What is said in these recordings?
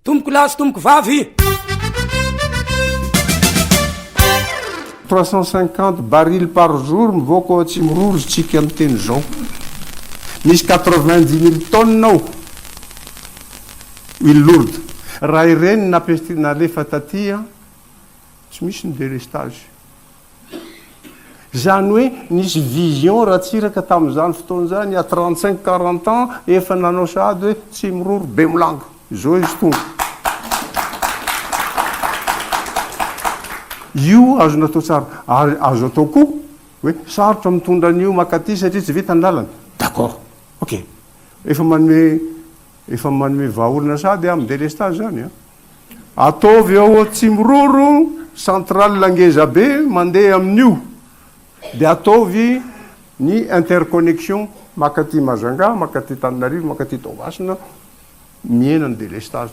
Tompoko lahy sy tompoko vavy. 350 barils par jour mivoaka ao Atsimiroro isika miteny izao. Misy 90 mille tonnes ao huile lourde. Raha ireny nalefa taty, tsy misy ny délestage. Izany hoe nisy vision Ratsiraka tamin'izany fotoana izany à trente cinq quarante ans efa nanao sahady hoe tsy miroro Bemolago. Izao izy tonga. Io azo natao tsara ary azo atao koa hoe sarotra mitondra an'io maka aty satria tsy vita ny lalana. D'accord. Ok. Efa manome efa manome vahaolana sahady amin'ny délestage izany an. Ataovy ao Atsimiroro centrale ngeza be mandeha amin'io dia ataovy ny interconnexion makaty Majunga, makaty Tananarivo, makaty Toamasina, mihena ny delestage.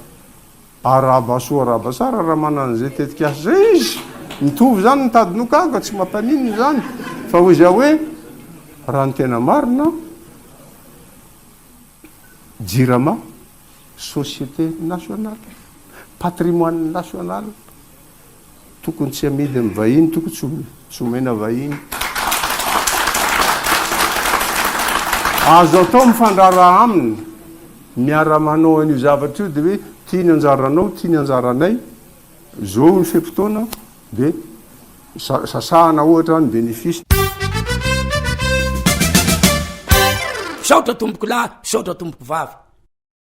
Arahaba soa arahaba tsara raha manana izay tetikasa izay izy. Mitovy izany ny tady nogaga, tsy mampaninona izany fa hoy za hoe raha ny tena marina, Jirama, société nationale, patrimoine national, tokony tsy amidy amin'ny vahiny, tokony tsy omena vahiny. Azo atao mifandraharaha aminy, miara-manao an'io zavatra io, dia hoe ity ny anjaranao, ity ny anjaranay, izao ny fe-potoana, dia. Sasana ohatra ny bénéfice. Misaotra tompoko lahy, misaotra tompoko vavy.